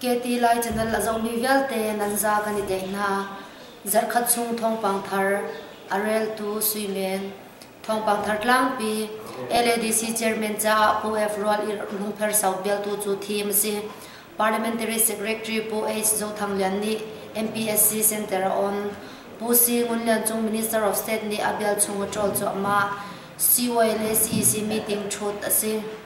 Keti Lai Canal a zohmi vialte Nanza kan i deng hna. Zarhkhat chung thawngpang thar, a reltu Suimen, thawngpang thar tlangpi, LADC Chairman caah Pu F. Rual I Lungpher sau bialtu cu thim a si. Parliamentary Secretary Pu H. Zo Thang Lian nih MPSC Center a on. Pu Si Ngun Lian Cung Minister of State nih a bial chung a ṭawl cuahmah. CY le CEC meeting ṭhut a si.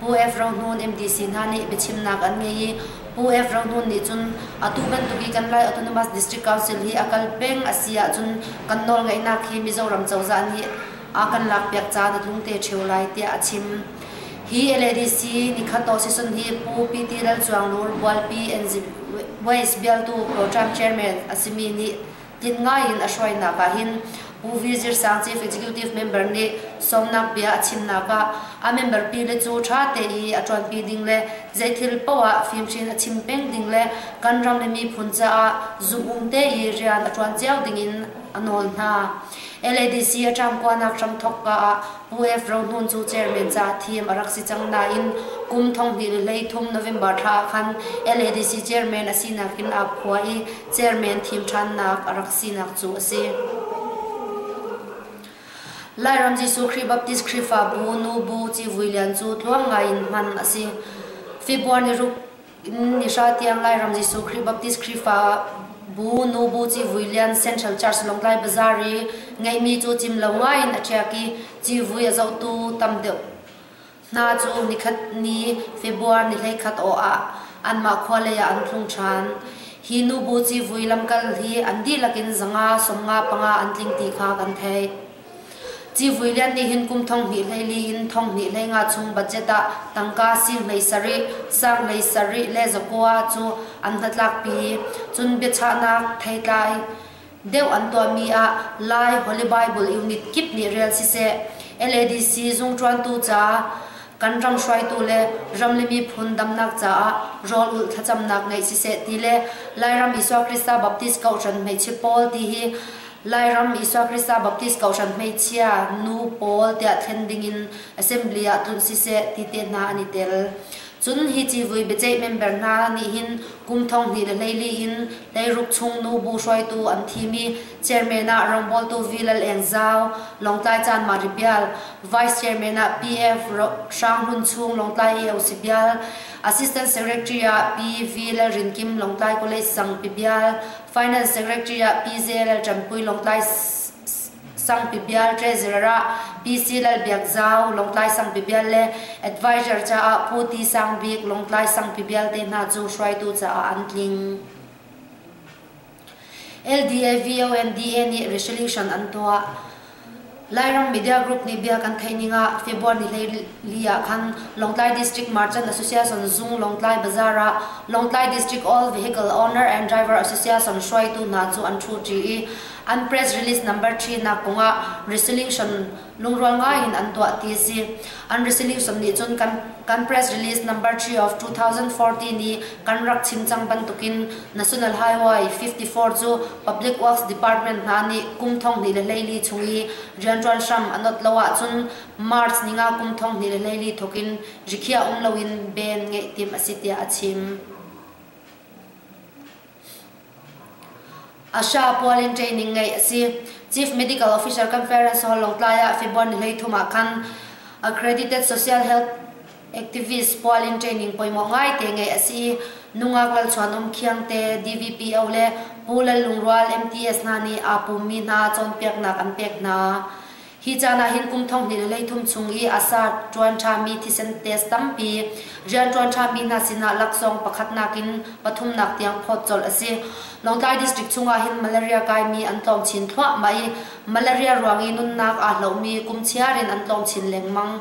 Pu F. Rohnun MDC hna nih biachimnak an ngei i Pu F. Rohnun nih cun atu bantuk i kan Lai Autonomous District Council hi a kal peng a si ahcun kan nawlngeihnak hi Mizoram cozah nih a kan lakpiak caan a tlung te ṭheo lai tiah a chim. Hi LADC Nikhato season hi Pu PT. Lalcuang Nur, Bualpi, NZWACE bialtu Program Chairman a simi nih Tling ngai in a hruainak ah hin U Wizir Sang Chief Executive member nih sawmnak bia a chimnak ah a member pile cu ṭha tein a ṭuanpi ding le zeithil poah fimhrin a chim peng ding le kan ram le miphun caah zumhum tein rian a ṭuan cio ding in a nawl hna. LADC a ṭamkuanak hramthawkka ah UF Rohmun cu chairman caah thim a rak si cang nain kum thonghnih le hleithum November thla ah khan LADC chairman a sinak in aa khua i chairman thim ṭhannak a rak sinak cu a si. Lairam Jesuh Khrih Baptist Khrihfabu nu Bu civui lian cu tluang ngai in hman a si. February ruk Ni hra tiang Lairam Jesuh Khrih Baptist Khrihfa bu nu bu ci vui lian Central Church Lawngtlai Bazaar i ngeihmi cu cim lo ngai in a ṭiak i ci vui a zohtu tam deuh hna cu nikhat ni February ni hleikhat aw ah anmah khua lei ah an tlung ṭhan. Hi nu bu ci vui lamkal hi an dihlak in zanga sawmnga panga an tling ti kha kan theih. Civui lian nih hin kum thong hnih hleili in thong hnih hlei nga chung budget ah tangka sing hlei sarih, sang hlei sarih le zakua cu an hnatlakpi i cun biachahnak theitlai deuh an tuahmi ah Lai Holy Bible Unit kip nih rel siseh, LADC zungṭuantu caah kan ram hruaitu le ram le miphun damnak caah rawl ulh thlacamnak ngeih siseh ti le Lairam Isua Krista Baptist Kohhran hmeichia pawl ti hi Lairam Isua Krista Baptist Kohhran Hmeichia nu pawl tiah thlen dingin Assembly ah tlun siseh ti te hna an i tel. Cun hi civui biaceih member hna nih hin kum thong hnih le hleili in hleiruk chung nu bu hruaitu an thim i chairman ah rawngbawltu V Lal Eng Zau, Lawngtlai caan Mari Bial, Vice Chairman ah PF Hrang Hun Chung Lawngtlai AOC Bial, Assistant Secretary ah Pi V Lal Rin Kim Lawngtlai College Sang Pi Bial, Finance Secretary ah PJLL Ṭampui Lawngtlai Sangpi Bial Treasurer ah PC Lal Biak Zau Lawngtlai Sangpi Bial le advisor caah Pu Ti Sang Bik Lawngtlai Sangpi Bial te hna cu hruaitu caah an tling. LDA, VONDA nih resolution an tuah. Lairam media group nih bia kan theih ning ah February li ah khan Lawngtlai District Merchant Association Zung Lawngtlai Bazaar ah Lawngtlai District All Vehicle Owner and Driver Association hruaitu hna cu an ṭhu ṭi i an press release number ṭhinak kong ah resolution lungrual ngai in an tuah ti a si. An resolution nih cun kan press release number 3 of 2014 i kan rak chim cang bantukin National Highway 54 cu Public Works Department hna nih kum thonghnih le hleili chung i rianṭuan hram an ot lo ahcun March ni nga kum thonghnih le hleili thawk in rikhiah um loin ben ngeih tim a si tiah a chim. Asha pual in training ngei a si. Chief Medical Officer Conference Hall Lotlai ah February hleithum ah khan accredited social health activist pual in training pawimawh ngaite ngeih a si nungak lalchuanawm khiangte DVPO le Pu Lallungrual MTS hna nih aa pummi hna cawnpiaknak an pek hna hi caan ah hin kum thong hnih le leithum chung i asa ṭuan ṭhami thisen test tampi rian ṭuan ṭhami hna sinah laksawng pakhatnak in pathumnak tiang phawt colh a si Lawngtlai district chungah hin malaria kaimi an tlawng chin thluahmah i malaria ruang i nunnak aa hlomi kum chiar in an tlawng chin lengmang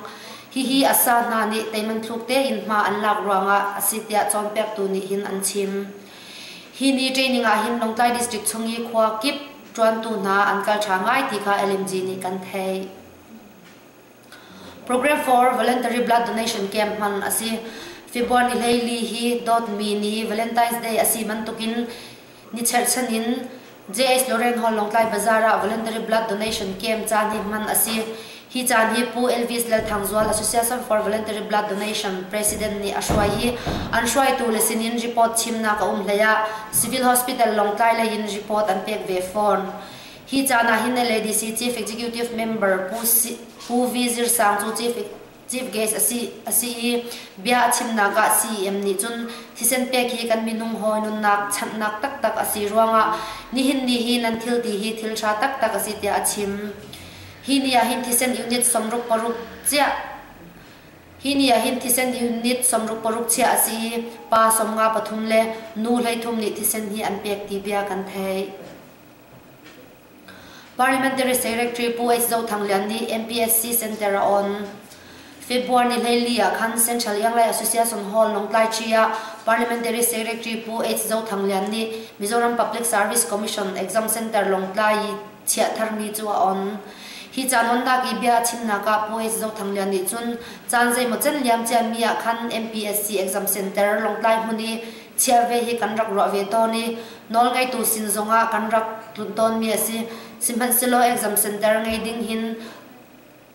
Hihi Assa hna nih teiman thluk tein hma an lak ruangah a si tiah cawnpiaktu nih hin an chim. Hi ni training ah hin Lawngtlai District chung i khua kip ṭuantu hna an kal ṭha ngai ti kha LMG nih kan theih. Program for Voluntary Blood Donation Camp hman a si. February hleili hi dawtmi ni Valentine's Day a si bantukin Ni cherhchan in JH Lorraine Hall Lawngtlai Bazaar ah Voluntary Blood Donation Camp caan hi hman a si. Hi caan hi Pu Elvis Lalthangzual Association for Voluntary Blood Donation President nih a hruai i an hruaitu le sinin report chimnak a um hlei ah Civil Hospital Lawngtlai lei in report an pek ve fawn. Hi caan ah hin LADC Chief Executive Member Pu, si, Pu V. Zir Sang cu Chief Chief Guest a si a si i bia a chimnak ah CEM nih cun thisen pek hi kan minung hawi nunnak chanhnak taktak a si ruangah nihin ni hi nan thilti hi thil ṭha taktak a si tiah a chim. Hi ni ahhin thisen unit sawmruk paruk chiah hi ni ahhin thisen unit sawmruk paruk chiah a si i pa sawmnga pathum le nu hleithum nih thisen hi an pek ti bia kan theih. Parliamentary Secretary Pu H Zo Thang Lian nih MPSC Centre a on. February ni hleili ah khan Central Younglei Association Hall Lawngtlaiṭhi ah Parliamentary Secretary Pu H Zo Thang Lian nih Mizoram Public Service Commission Exam Centre Lawngtlai i chiah tharmi cu a on. Hi caan onnak i bia a chimnak ah Pu H Zo Thang Lian nih cun caan zeimaw can liamciami ah khan MPSC Exam Centre Lawngtlai hmun i chiar ve hi kan rak ruah ve tawn i nawl ngeitu sin zongah kan rak tlunh tawnmi a si sihmanhsehlaw exam center ngei ding hin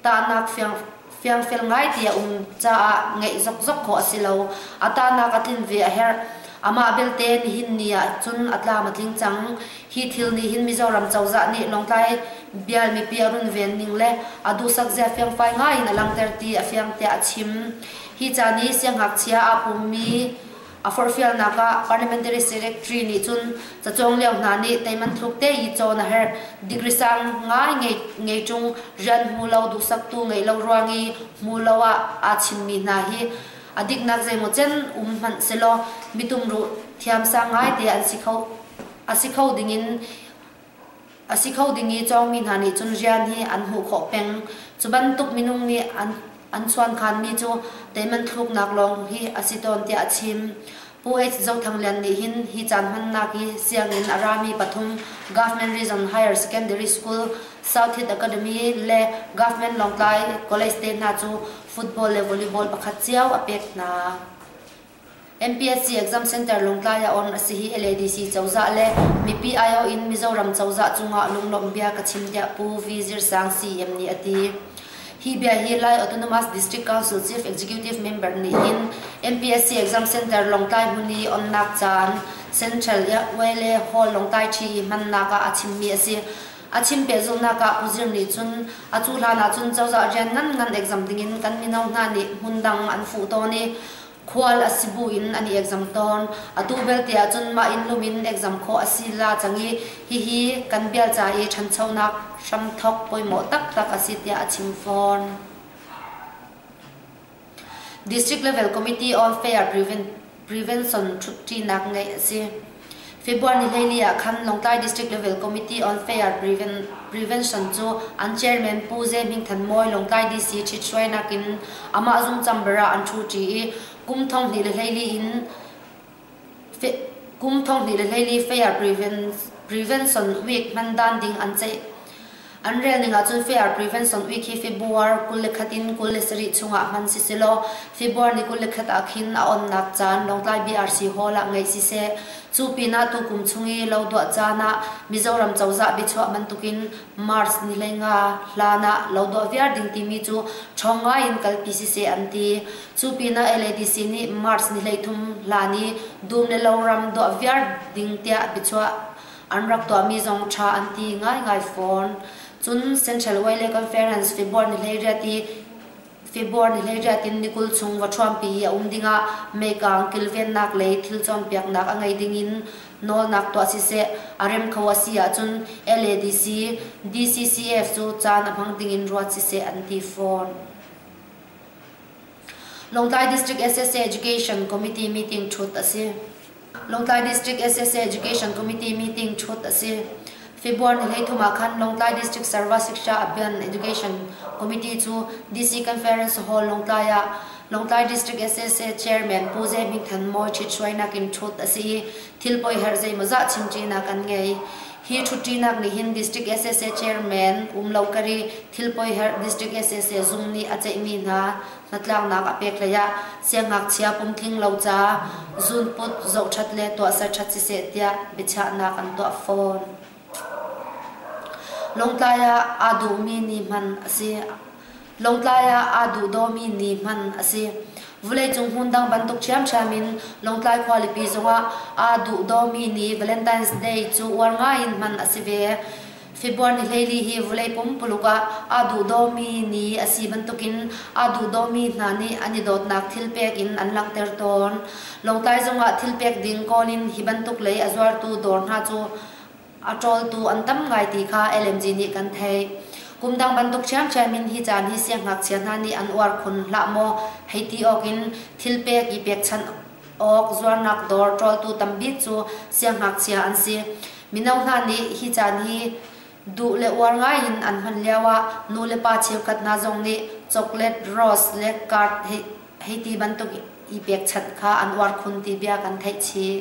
tahnak fiang fiangfel ngai ti a um caah ngeih zokzok khawh a si lo a tahnak a tlin ve a herh amah belte nihin ni ah cun a tlam a tling cang hi thil nih hin mizoram cozah nih lawngtlai bial mipi a runven ning le a duhsak zia fiangfai ngai in a langhter ti a fiang tiah a chim hi ca nih siangngakchia aa pummi A forhfialnak ah Parliamentary Secretary nih cun cacawng lio hna nih teiman thluk te i cawn a herh. Degree sang ngai ngei, ngei chung rian hmu lo, duhsaktu ngeih lo ruang i hmu lo ah aa chimmi hna hi a diknak zeimaw cen um hmanh selaw mitum ruh thiamsang ngai te an si kho. A si kho ding in a si kho ding i cawngmi hna nih cun rian hi an hmuh khawh peng. Cu bantuk minung nih an an chuankhanmi cu teihman thluknak lawng hi a si tawn tiah a chim. Pu H. Zothang Lian nih hin hi caan hmannak hi sianginn a rami pathum Government Region Higher Secondary School, South Hit Academy le Government Lawngtlai College te hna cu football le volleyball pakhat cio a pek hna. MPSC Exam Center Lawngtlai ah on a si hi LADC cozah le mipi aiawh in Mizoram cozah cungah lunglawmh bia ka chim tiah Pu V Zir Sang CM nih a ti. Hi bia hi Lai Autonomous District Council Chief Executive member nih hin MPSC Exam Center Lawngtlai hmun i onnak caan Central Vale Hall Lawngtlai ṭhi i hmannak ah a chimmi a si. A chim pehzulhnak ah Pu Zir nih cun a cu hlan ahcun cozah rian ngan ngan exam dingin kan mino hna nih hmun dang an fuh tawn i Khual a si buin an i exam tawn. Atu belte ahcun mah inn lum in exam khawh a si la cang i hihi kan bial ca i ṭhanchonak hramthawk pawimawh taktak a si tiah a chim fawn. District Level Committee on Fair Prevention ṭhutṭinak ngeih a si. February hleili ah khan Lawngtlai District Level Committee on Fair Prevention cu an chairman Pu Ze Hming Than Mawi Lawngtlai DC ṭhithruainak in amah zungcam ber ah an ṭhuṭi i kum thonghnih le hleili in kum thonghnih le hleili Fair Prevention Week hman dan ding an ceih. An rel ning ahcun fair prevention ui khi February kul le khat in kul le sarih chungah hman sisilaw February ni kul le khat ah khin a onnak caan Lawngtlai BRC Hall ah ngeih siseh, cu pinah tukum chung i lo duah caan ah Mizoram cozah biachuah bantukin March ni le nga hlan ah lo duah viar ding timi cu ṭhawng ngai in kalpi siseh an ti. Cu pinah LADC nih March ni hleithum hlan i dum le lo ram duah viar ding tiah biachuah An rak tuahmi zong ṭha an ti ngaingai fawn. Cun Central Valley Conference February ni hleiriat i February ni hleiriat in ni kul chung vaṭhuampi i a um dingah meikaang kilvennak lei thil cawnpiaknak a ngei ding in nawlnak tuah siseh a rem kho a si ahcun LADC, DCCF cu caan a hmang ding in ruat siseh an ti fawn. Lawngtlai District SSA Education Committee meeting thut a si. Lawngtlai District SSA Education Committee meeting thut a si. February ni hlei thum ah khan Lawngtlai District Sarva Shiksha Abhiyan Education Committee cu DC Conference Hall Lawngtlai ah Lawngtlai District SSA Chairman Pu Zai Bing Than Mawi ṭhit hruainak in thut a si i thil poi herh zei maw zah chimṭinak an ngei. Hi ṭhutṭinak nih hin District sac Chairman Um Lo Kari, Thilpoiherh District sac Zung nih a ceihmi hna hnatlaknak a peklei ah siangngakchia pumtling lo ca zunput zohṭhat le tuahser ṭhat siseh tiah biachahnak an tuah fawn. Lawngtlai ah aa dawmi ni hman a si. Lawngtlai ah aa duhdawmi ni hman a si. Vuleicung hmun dang bantuk ṭhiamṭhiam in Lawngtlai khualipi zongah aa duhdawmi ni Valentine's Day cu uar ngaiin hman a si ve. February ni hleili hi vulei pumpuluk ah aa duhdawmi ni a si bantukin aa duhdawmi hna nih an i dawtnak thilpek in an langhter tawn. Lawngtlai zongah thilpek ding kawl in hi bantuk lei a zuartu dawr hna cu A ṭawltu an tam ngai ti kha LMG nih kan theih. Kum dang bantuk ṭhiamṭhiam in hi caan hi siangngakchia hna nih an uar khun hlah maw hei ti awk in thilpek i pekchanh awk zuarnak dawr ṭawltu tam bik cu siangngakchia an si. Mino hna nih hi caan hi duh le uar ngai in an hman lio ah nu le pa cheukhat hna zong nih chocolate rose le card hei, hei ti bantuk i pekchanh kha an uar khun ti bia kan theih chih.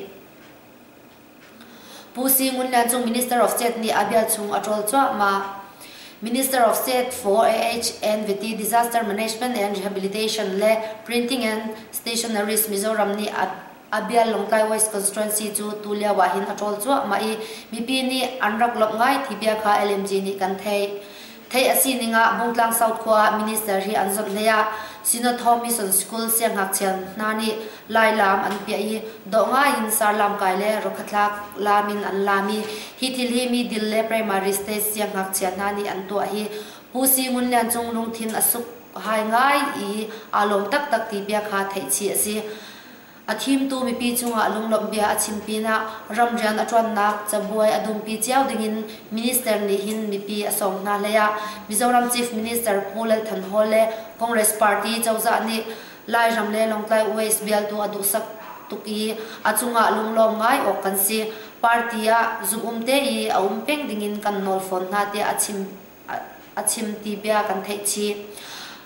Pu Si Ngun le Cung Minister of State nih a bia chung a ṭawl cuahmah. Minister of State for AH and Vety Disaster Management and Rehabilitation le Printing and Stationeries Mizoram nih a bia Lawngtlai West Constituency cu tulio ah hin a ṭawl cuahmah i mipi nih an rak lawmh ngai ti bia kha LMG nih kan theih. Theih a sining ah Bungtlang South khua ah minister hi an zawt hlei ah Synod Hall Mission School siangngakchia hna nih lailaam an piah i dawh ngai in sarlaam kai le rokhatlak laam in an laam i hi thil hi middle le primary stage siangngakchia hna nih an tuah hi Pu Si Ngun Lian Cung lungthin a suk hai ngai i aa lawm taktak ti bia kha theih chih a si. A thimtu mipi cungah lunglawmh bia a chim pinah ram rian a ṭuannak cabuai a dumpi cio dingin minister nih hin mipi a sawm hna hleiah Mizoram Chief Minister Pu Lal Than Hall le Congress party cozah nih Lairam le Lawngtlai West bialtu a duhsak tuk i a cungah lunglawm ngai awk kan si. Party ah zum um te i a um peng dingin kan nawl fawn hna tiah a chim a chim ti bia kan theih chih.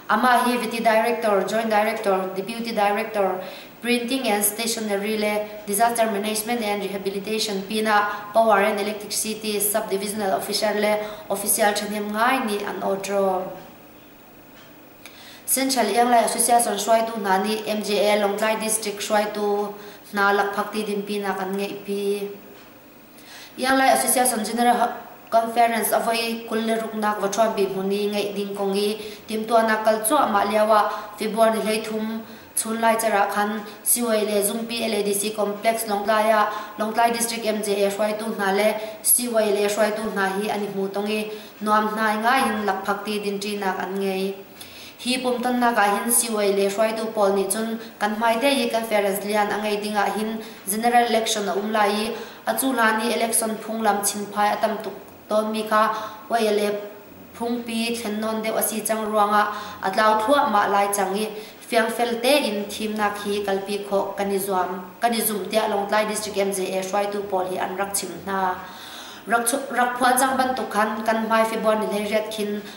Amah hi Viti Director, Joint Director, Deputy Director, Printing and Stationery le Disaster Management and Rehabilitation pinah Power and Electricity Subdivisional Officer le Official thahnem ngai nih an awtro. Central Ianglai Association hruaitu hna nih MJA Lawngtlai District hruaitu hna lakphakti dinpinak an ngeihpi. Iarlai Association General Conference a voi kul le ruknak va ṭhuam pi hmun i ngeih ding kong i timhtuahnak kal cuahmah lioah February ni hleithum chun lai cer ah khan Siwei le Zumpi LADC complex Lawngtlai ah Lawngtlai District MJA hruaitu hna le Siwei le hruaitu hna hi an i hmu tong i nuam hnai ngaiin lakphakti dinṭinak an ngei. Hi pumtonnak ah hin siuai le hruaitu pawl nih cun kan hmaite i conference lian a ngei ding ah hin general election a um lai i a cu hlan i election phunglam chimphai a tam tuk tawnmi kha oi le phungpi thlen nawn deuh a si cang ruangah a tlau thluahmah lai cang i fiangfel tein thimnak hi kalpi khawh kan i zuam kan i zumh tiah Lawngtlai District MJA hruaitu pawl hi an rak chim hna rak phuan cang bantuk khan kan hmai February le riat khin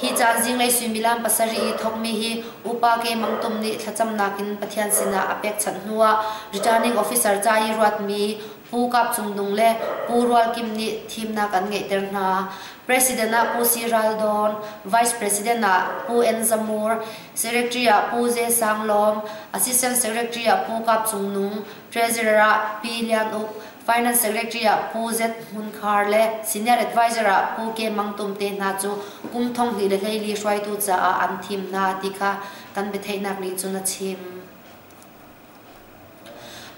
Hi caan zinglei suimilam pasarih i thawkmi hi upa Keimang Tum nih thlacamnak in Pathian sinah a pekchanh hnuah returning officer ca i ruatmi Pu Kap Cung Nung le Pu Rual Kim nih thimnak an ngeihter hna. President ah Pu Si Ral Dawn, Vice President ah Pu En Za Mur, Secretary ah Pu Ze Sang Lawm, Assistant Secretary ah Pu Kap Cung Nung, Treasurer ah Pi Lian Uk, Finance Secretary ah Pu Zet Hmun Khar le Senior Advisor ah Pu Ke Mang Tum te hna cu kum thonghnih le hleili hruaitu caah an thim hna ti kha kan biatheihnak nih cun a chim.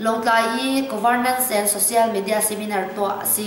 Lawngtlai i Governance and Social Media Seminar tuah a si.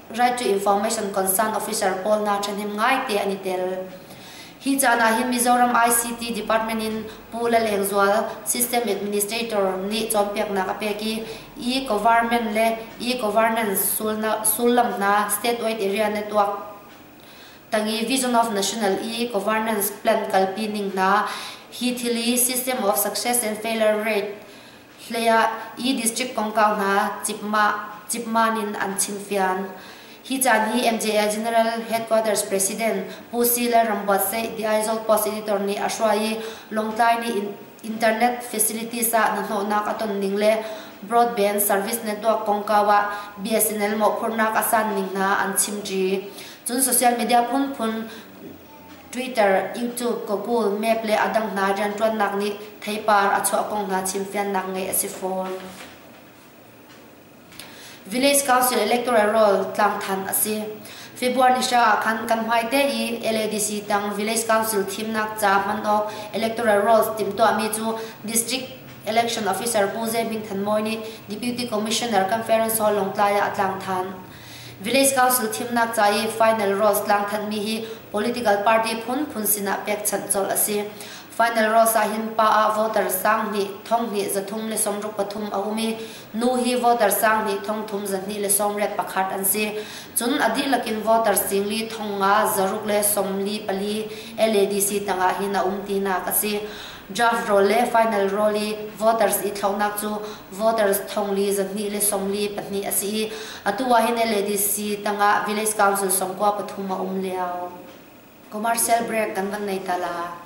Right to Information Concern Officer pawl hna ṭhahnem ngaite an i tel. Hi caan ah hin Mizoram ICT Department in Pu Laleng Zual, System Administrator, nih cawnpiaknak a pek i e-government le e-governance sullam hna statewide area network tangi Vision of National E-Governance Plan kalpi ning hna hi thili System of Success and Failure Rate hlei ah i district kongkau hna cipman in an chim fian. Hi caan hi MJA General Headquarters President Pu Si Lal Rambuat Seih di Aizawl Post Editor nih a hruai i Lawngtlai nih internet facilities ah hnahnawhnak a ton ning le broadband service network kongkau ah BSNL mawhphurhnak a san ning hna an chim ṭi. Cun social media phunphun Twitter, YouTube, Google, Map le a dang hna rianṭuannak nih theipar a chuah kong hna chimfiannak ngeih a si fawn. Village Council electoral roll tlangthan a si. February ni hra ah khan kan hmai te i LADC tang Village Council thimnak ca hman awk electoral roll timhtuahmi cu District Election Officer Pu Zai Hming Than Mawi nih Deputy Commissioner Conference Hall Lawngtlai ah a tlangthan. Village Council thimnak ca i final Ross tlangthanhmi hi political party phunphun sinah pekchanh colh a si. Final Ross ah hin pa ah voter sang hnih, thong hnih, za thum le sawmruk pathum a um i, nu hi voter sang hnih, thong thum, za hnih le sawmriat pakhat an si. Cun a dihlak in voter singli thong nga zaruk le sawmli pali LADC tangah hin a um tinak a si. Draft rawl le final rawl i voters ithlaunak cu voters thonglii zahnih le sawmli pahnih a si i atu ah hin LADC tangah Village Council sawmkua pathum a um lio. Commercial break kan van nei tala.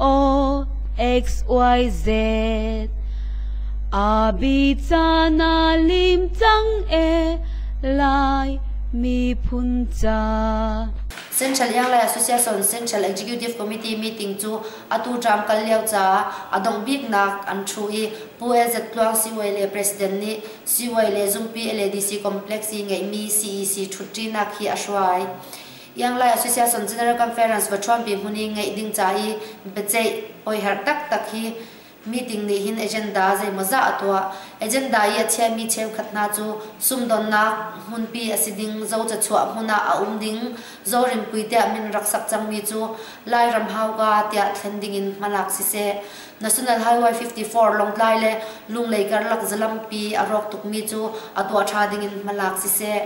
O X Y Z Abicana limcang e lai miphun ca Central Yang Lai Association Central Executive Committee meeting cu atu ṭam kal lio caah a dongh biknak an ṭhu i Pu LZ Tluang CY le President nih CY le Zumpi LADC complex i ngeihmi CEC ṭhutṭinak hi a hruai. Ianglai Association General Conference va ṭhuampi hmun i ngeih ding ca i biaceih oiherh taktak hi meeting nih hin agenda zeimawzah a tuah. Agenda i a chiami cheukhat hna cu sumdawnnak hmunpi a si ding, zo cachuah hmun ah a um ding, zorinpui tiah min rak sak cangmi cu Lairam hauka tiah thlen ding in hmalak siseh, National Highway 54 Lawngtlai le Lunglei karlak zalampi a rawk tukmi cu a tuah ṭha ding in hmalak siseh,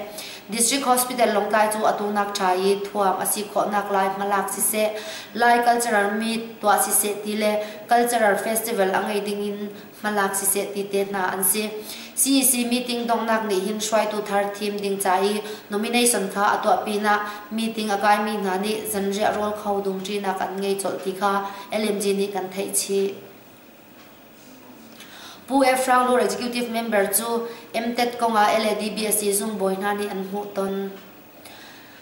District Hospital Lawngtlai cu atu nak ṭha i thuam a si khawhnak lai hmalak siseh, Lai cultural meet tuah siseh ti le cultural festival a ngei dingin hmalak siseh ti te hna an si. CEC meeting donghnak nih hin hruaitu thar thim ding ca i nomination kha a tuah pinah meeting a kaimi hna nih zanriah rawl kho dungṭinak an ngei colh ti kha LMG nih kan theih chih. Pu Efraung Law Executive member cu MTET kong ah LADBSC zungbawi hna nih an hmuh ton.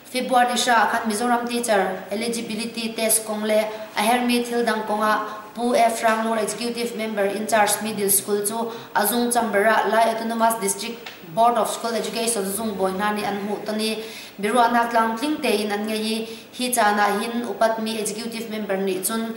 February ni hra khan Mizoram teacher eligibility test kong le a hermi thil dang kong ah Pu Efraung Law Executive member in charge middle school cu a zung chamber ah Lai Autonomous District Board of School Education zungbawi hna nih an hmuh ton i biaruahnak tlamtling tein an ngei i hi caan ah hin upatmi executive member nih cun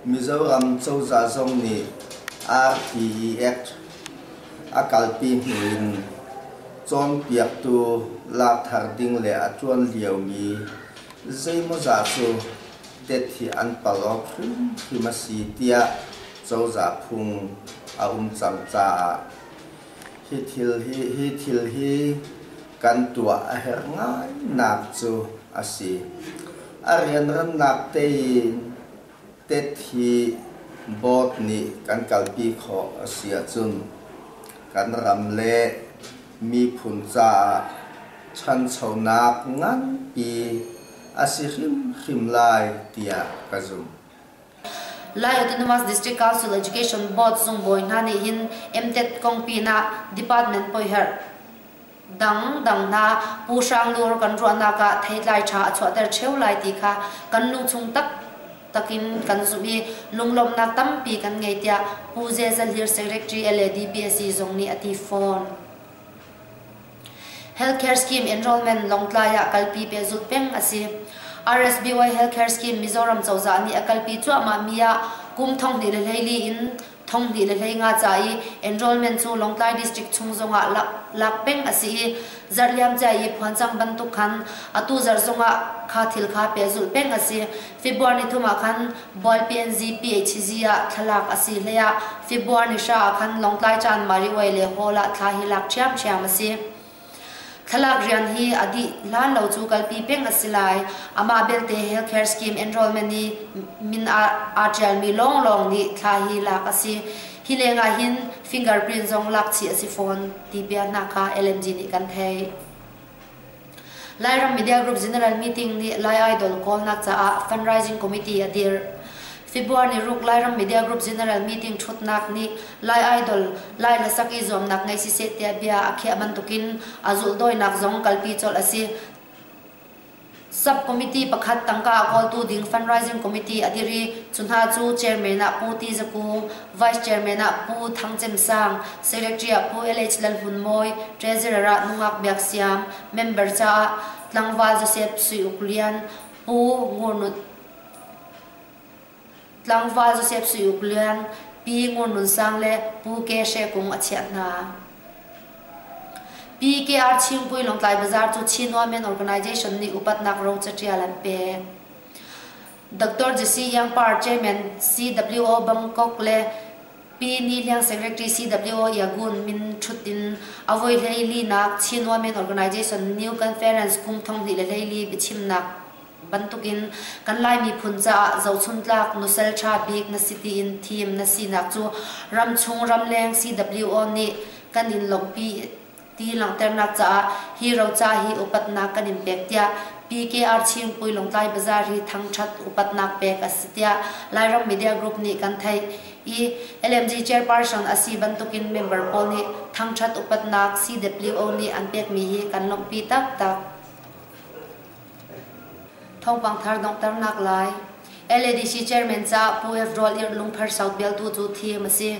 Mizoram cozah zong nih RTEX a kalpi hnu in cawnpiaktu lak thar ding le a ṭuan liomi zeimawzah cu tehti an palh awk hrimhrim a si tiah cozah phung a um cang caah Hi thil hi kan tuah a herh ngainak cu a si. A rianrannak tein tet hi board nih kan kalpi khawh a si ahcun kan ram le miphun caah ṭhanchonak nganpi a si hrimhrim lai tiah ka zumh. Lai Autonomous District Council Education Board zungbawi hna nih hin MTET kong pinah department poiherh dangdang hna pu hrang lur kan ruahnak ah theitlai tha a chuahter cheu lai ti kha kan lungchung tak takin kan zumh i lunglawmhnak tampi kan ngei tiah Pu Zezal Hlir Secretary LADPSC zong nih a ti fawn. Healthcare scheme enrolment Lawngtlai ah kalpi pehzulh peng a si. RSBY Healthcare Scheme Mizoram cozah nih a kalpi cuahmahmi ah kum thonghnih le hleili in thonghnih le hlei nga ca i enrolment cu Lawngtlai District chung zongah lak, lak peng a si i zarliamcia i phuancang bantuk khan atu zarh zongah kha thil kha pehzulh peng a si. February thum ah khan Bawi PNZ PHZ ah thlalak a si hleiah February hra ah khan Lawngtlai caan Mariway le Hall ah thla hi lak ṭhiamṭhiam a si. Thlalak rian hi a dih hlan lo cu kalpi peng a si lai. Amah belte healthcare scheme enrollment i min aa aa ṭialmi lawnglawng nih thla hi lak a si. Hi leng ah hin fingerprint zong lakchih a si fawn ti bia hna kha LMG nih kan theih. Lairam Media Group General Meeting nih Lai Idol kawlnak caah Fundraising Committee a dir. February ni ruk Lairam Media Group General Meeting thutnak nih Lai Idol Lai le sak i zuamnak ngei si seh tiah bia a khiah bantukin a zulhdawinak zong kalpi colh a si. Sub-committee pakhat tangka a kawltu ding Fundraising Committee a dir i cu hna cu chairman ah Pu Ti Za Ku, Vice Chairman ah Pu Thang Cem Sang, Secretary ah Pu LH Lal Hmun Mawi, Treasurer ah nungak Biak Siam, member caah Tlangval Joseph Sui Uk Lian, Pu Ngur Nut, Tlangval Joseph Sui Uk Lian, Pi Ngur Nun Sang le Pu Ke She Kung a chiah hna. PKR Chingpui Longtlai Bazaar cu Chinua Men Organization nih upatnak ro catial an pek. Dr. Jesse Youngpar, Chairman CWO Bangkok le Pi Ni Liang, Secretary CWO Yagun min thut in a voi hleili nak Chin Women Organization New Conference kum thonghnih le hleili biachimnak bantuk in kan lai miphun caah zohchun tlak nusel tha bik na si tiin thim na sinak cu ramchung ramleng CWO nih kan in lawmhpi ti langhternak caah hi roca hi upatnak kan in pek tiah PKR Chingpui Lawngtlai Bazaar hi thangthat upatnak pek a si tiah Lairam Media Group nih kan theih i LMG chairperson a si bantukin member pawl nih thangthat upatnak CWO nih an pekmi hi kan lawmhpi taktak. Thawngpang thar donghternak lai LADC chairman ca Pu F Rawl Ir Lungphar South bialtu cu thim a si.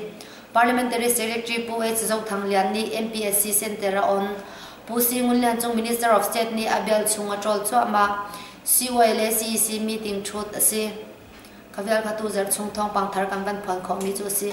Parliamentary Secretary Pu H Zothang Lian nih MPSC Center a on. Pu C Ngun Lian cu Minister of State nih a bial chung a ṭawl cuahmah. CY le CEC meeting ṭhut a si. Ka vialphatu zarh chung thawngpang thar kan van phuan khawhmi cu a si.